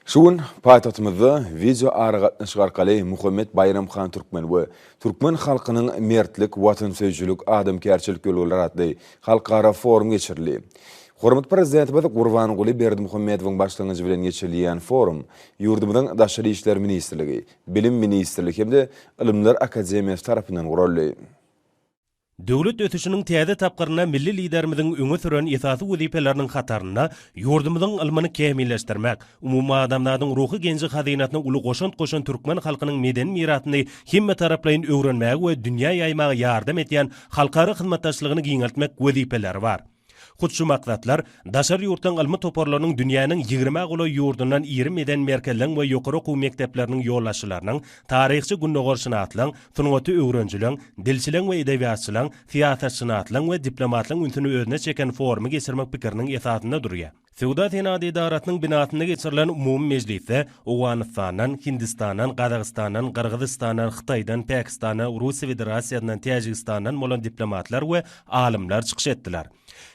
Şu gün paýtagtymyzda wideoaragatnaşyk arkaly Muhammet Baýram han Türkmen we Türkmen halkynyň mertlik, watansöýüjilik, adamkärçilik ýörelgeleri atly halkara forum geçirildi. Hormatly Prezidentimiz Gurbanguly Berdimuhamedowyň başlangyjy bilen geçirilýän forum ýurdumyzyň Daşary işler ministrligi, Bilim ministrligi hem-de Ylymlar akademiýasy tarapyndan guraldy. Döwlet ösüşiniň täze tapgyrynda milli Liderimiziň öňe süren esasy wezipeleriniň hatarynda ýurdumyzyň ylmyny kämilleşdirmek, umumadamzadyň ruhy genji-hazynasyna uly goşant goşan türkmen halkynyň medeni mirasyny hemmetaraplaýyn öwrenmäge we dünýä ýaýmaga ýardam edýän halkara hyzmatdaşlygyny giňeltmek wezipeleri bar. Hut şu maksatlar daşary ýurtdan ylmy toparlarynyň dünýäniň ýigrimä golaý ýurdundan irim eden merkezleň we ýokary okuw mekdepleriniň ýolbaşçylarynyň, taryhçy gündogarşynaslaň, sungaty öwrenijileň, dilçileň we edebiýatçylaň, syýasatşynaslaň we diplomatlaň ünsüni özüne çeken forumy geçirmek pikiriniň esasynda durýar. Söwda-senagat edarasynyň binasynda geçirilen umumy mejlisde Owganystandan, Hindistandan, Gazagystandan, Gyrgyzystandan, Hytaýdan, Pakistandan, Russiýa Federasiýasyndan, Täjigistandan bolan diplomatlar we alymlar çykyş etdiler.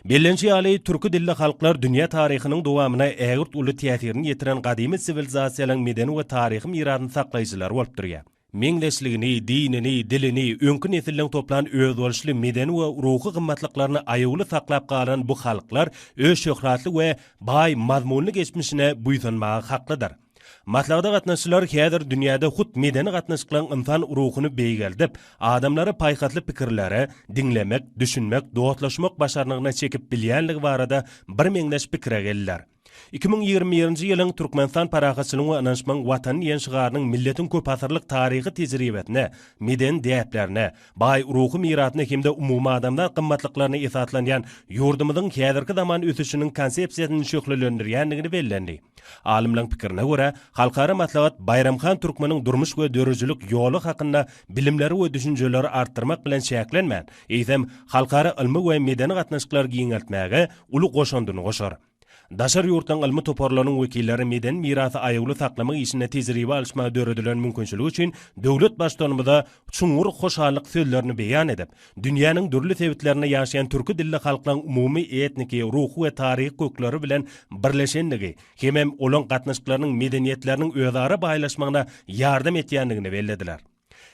Bellenişi ýaly, türki dilli halklar dünýä taryhynyň dowamyna ägirt uly täsirini ýetiren gadymy siwilizasiýalaryň medeni we taryhy mirasyny saklaýjylary bolup durýar. meňzeşligini, dinini, dilini, öňki nesilden toplan özboluşly medeni we ruhy gymmatlyklaryny aýawly saklap galan bu halklar öz şöhratly we baý mazmunly geçmişine buýsanmaga haklydyr. Maslahata gatnaşyjylar häzir dünýäde hut medeni gatnaşyklaryň ynsan ruhuny beýgeldip, adamlary paýhasly pikirlere, diňlemek, düşünmek, dostlaşmak başarnygyna çekip bilýänligi barada birmeňzeş pikire geldiler. Iki müň ýigrimi birinji ýylyň Türkmenistan parahatçylygyň we ynanyşmagyň Watany diýen şygarynyň milletiň köpasyrlyk taryhy tejribesine, medeni däplerine, baý ruhy mirasyna hem-de umumadamzat gymmatlyklaryna esaslanýan ýurdumyzyň häzirki zaman ösüşiniň konsepsiýasyny şöhlelendirýändigini bellendi. Alymlaryň pikirine görä, halkara maslahat Baýramhan Türkmeniň durmuş we döredijilik ýoly hakynda bilimleri we düşünjeleri artdyrmak bilen çäklenmän, eýsem, halkara ylmy we medeni gatnaşyklary giňeltmäge uly goşandyny goşar. Daşary ýurtlaryň ylmy toparlarynyň wekilleri medeni mirasy aýawly saklamak işinde tejribe alyşmaga döredilen mümkinçilik üçin döwlet Baştutanymyza çuňňur hoşallyk sözlerini beýan edip, dünýäniň dürli sebitlerinde ýaşaýan türki dilli halklaryň umumy etniki, ruhy we taryhy kökleri bilen birleşendigi hemem olaň gatnaşyklarynyň medeniýetleriniň özara baýlaşmagyna ýardam etýändigini bellediler.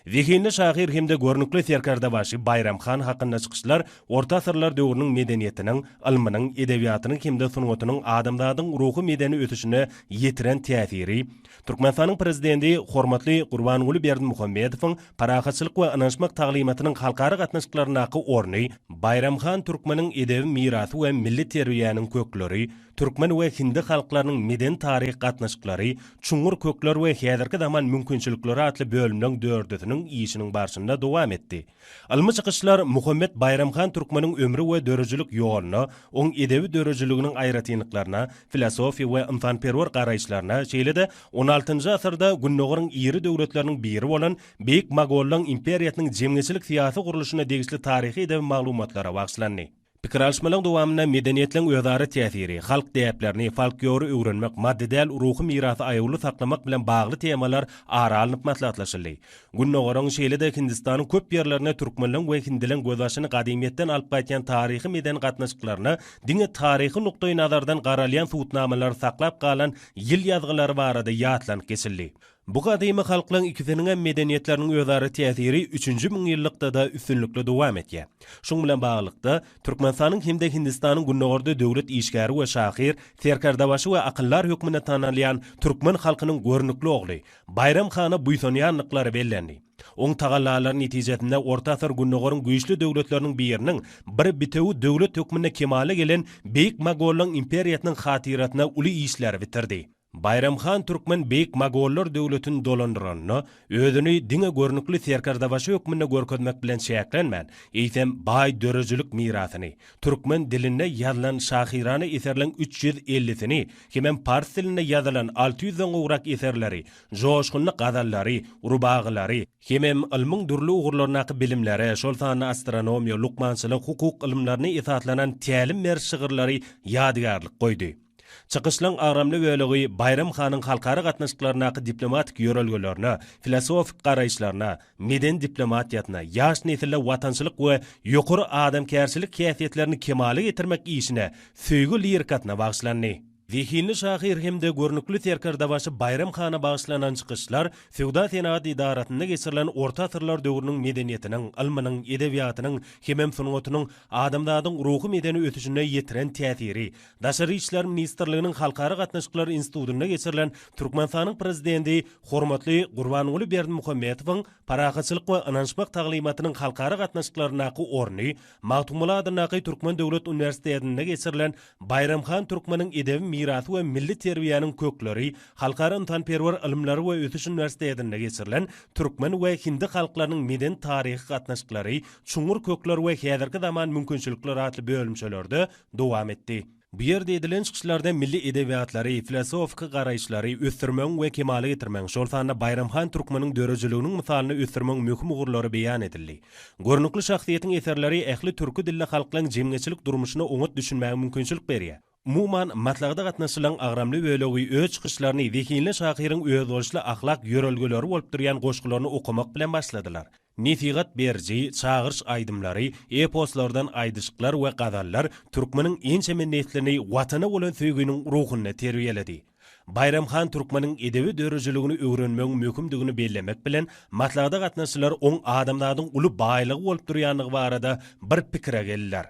Zehinli şahyr hem-de görnükli serkerdebaşy Baýram han hakynda çykyşlar orta asyrlar döwrüniň medeniýetiniň, ylmynyň, edebiýatynyň hem-de sungatynyň adamzadyň ruhy-medeni ösüşine ýetiren täsiri, Türkmenistanyň Prezidenti hormatly Gurbanguly Berdimuhamedowyň parahatçylyk we ynanyşmak taglymatynyň halkara gatnaşyklaryndaky orny, Baýram han türkmeniň edebi mirasy we milli terbiýäniň kökleri, Türkmen we hindi halklarynyň medeni-taryhy gatnaşyklary, çuňňur kökler we häzirki zaman mümkinçilikleri atly bölümleň dördüsiniň işiniň barşynda dowam etdi. Ylmy çykyşlar Muhammet Baýramhan Türkmeniň ömri we döredijilik ýoluna, oň edebi döredijiliginiň aýratynlyklaryna, filosofiýa we ynsanperwer garaýyşlaryna, şeýle-de on altynjy asyrda Gündogaryň iri döwletleriniň biri bolan Beýik Mogollaň imperiýasynyň jemgyýetçilik-syýasy gurluşyna degişli taryhy-edebi maglumatlara bagyşlandy. Pikir alyşmalaryň dowamynda medeniýetleň özara täsiri, halk däplerini, folkiory öwrenmek, maddy däl ruhy mirasy aýawly saklamak bilen bagly temalar ara alnyp maslahatlaşyldy. Gündogaryň, şeýle-de Hindistanyň köp ýerlerinde türkmenleň we hindileň gözbaşyny gadymyýetden alyp gaýtýan taryhy-medeni gatnaşyklaryna diňe taryhy nukdaýnazardan garalýan subutnamalary saklap galan ýyl ýazgylary barada ýatlanyp geçildi. Bu gadymy halklaň ikisiniňem medeniýetleriniň özara täsiri üçünji müňýyllykda-da üstünlikli dowam etýär. Şuň bilen baglylykda, Türkmenistanyň hem-de Hindistanyň gündogarda döwlet işgäri we şahyr, serkerdebaşy we akyldar hökmünde tanalýan türkmen halkynyň görnükli ogly Baýram hana buýsanýandyklary bellendi. Oň tagallalary netijesinde orta asyr gündogaryň güýçli döwletleriniň biriniň bir bitewi döwlet hökmünde kemala gelen Beýik Mogollaň imperiýasynyň hatyrasyna uly işleri bitirdi. Baýram han Türkmen Beýik Mogollar döwletini dolandyranda, özüni diňe görnükli serkerdebaşy hökmünde görkezmek bilen çäklenmän, eýsem, baý döredijilik mirasyny, türkmen dilinde ýazylan şahyrana eserleň üç ýüz ellisini hemem pars dilinde ýazylan alty ýüzden gowrak eserleri, joşgunly gazallary, rubagylary, hemem ylmyň dürli ugurlaryndaky bilimleri, şol sanda astronomiýa, lukmançylyk, hukuk ylymlaryna esaslanan tälim beriş şygyrlary ýadygärlik goýdy. Çykyşlaryň agramly bölegi Baýram hanyň halkara gatnaşyklaryndaky diplomatik ýörelgelerine, filosofik garaýyşlaryna, medeni diplomatiýasyna, ýaş nesille watançylyk we ýokary adamkärçilik häsiýetlerini kemala getirmek işine söýgi lirikasyna bagyşlandy. Zehinli şahyr hem-de görnükli serkerdebaşy Baýram hana bagyşlanan çykyşlar Söwda-senagat edarasynda geçirilen orta asyrlar döwrüniň medeniýetiniň, ylmynyň, edebiýatynyň hemem sungatynyň adamzadyň ruhy-medeni ösüşine ýetiren täsiri, Daşary işler ministrliginiň Halkara gatnaşyklary institutynda geçirilen Türkmenistanyň Prezidenti hormatly Gurbanguly Berdimuhamedowyň Parahatçylyk we ynanyşmak taglymatynyň halkara gatnaşyklaryndaky orny, Magtymguly adyndaky Türkmen döwlet uniwersitetinde geçirilen Baýram han Türkmeniň edebi mirasy we milli terbiýäniň kökleri halkara ynsanperwer ylymlary we ösüş uniwersitetinde geçirilen Türkmen we hindi halklarynyň medeni-taryhy gatnaşyklary, çuňňur kökler we häzirki zaman mümkinçilikleri atly bölümçelerde dowam etdi. Bu ýerde edilen çykyşlarda milli edebiýatlary, filosofiki garaýyşlary ösdürmegiň we kemala getirmegiň, şol sanda Baýramhan Türkmeniň döredijiliginiň mysalyny ösdürmegiň möhüm ugurlary beýan edildi. Görnükli şahsyýetiň eserleri ähli türki dilli halklaryň jemgyýetçilik durmuşyna oňat düşünmäge mümkinçilik berýär. Umuman, maslahata gatnaşyjylaryň agramly bölegi öz çykyşlaryny zehinli şahyryň özboluşly ahlak ýörelgeleri bolup durýan goşgularyny okamak bilen başladylar. Nesihat beriji, çagyryş aýdymlary, eposlardan aýdyşyklar we gazallar türkmeniň ençeme neslini Watana bolan söýginiň ruhunda terbiýeledi. Baýram han türkmeniň edebi döredijiligini öwrenmegiň möhümdigini bellemek bilen, maslahata gatnaşyjylar oň adamzadyň uly baýlygy bolup durýandygy barada bir pikire geldiler.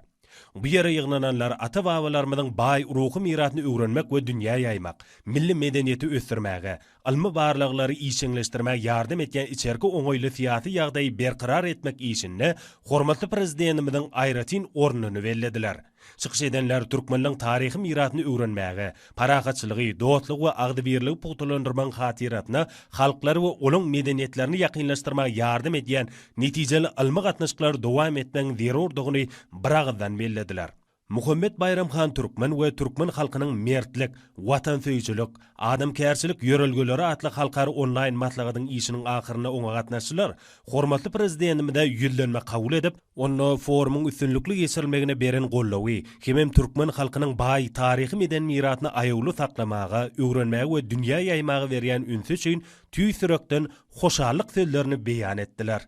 Bu ýere ýygnananlar ata-babalarymyzyň baý ruhy mirasyny öwrenmek we dünýä ýaýmak, milli medeniýeti ösdürmäge, ylmy barlaglary işjeňleşdirmäge ýardam edýän içerki oňaýly syýasy ýagdaýy berkarar etmek işinde hormatly Prezidentimiziň aýratyn ornuny bellediler. Çykyş edenler türkmenleň taryhy mirasyny öwrenmäge, Parahatçylygy, dostlugy we agzybirligi pugtalandyrmagyň hatyrasyna halklary we olaň medeniýetlerini ýakynlaşdyrmaga ýardam edýän netijeli ylmy gatnaşyklary dowam etmegiň zerurdygyny biragyzdan bellediler. Muhammet Baýram han Türkmen we türkmen halkynyň mertlik, watansöýüjilik, adamkärçilik ýörelgeleri atly halkara onlaýn maslahatyň işiniň ahyrynda oňa gatnaşyjylar Hormatly Prezidentimize ýüzlenme kabul edip, onda forumyň üstünlikli geçirilmegine beren goldawy, hemem türkmen halkynyň baý taryhy-medeni mirasyny aýawly saklamaga, öwrenmäge we dünýä ýaýmaga berýän ünsi üçin tüýs ýürekden hoşallyk sözlerini beýan etdiler.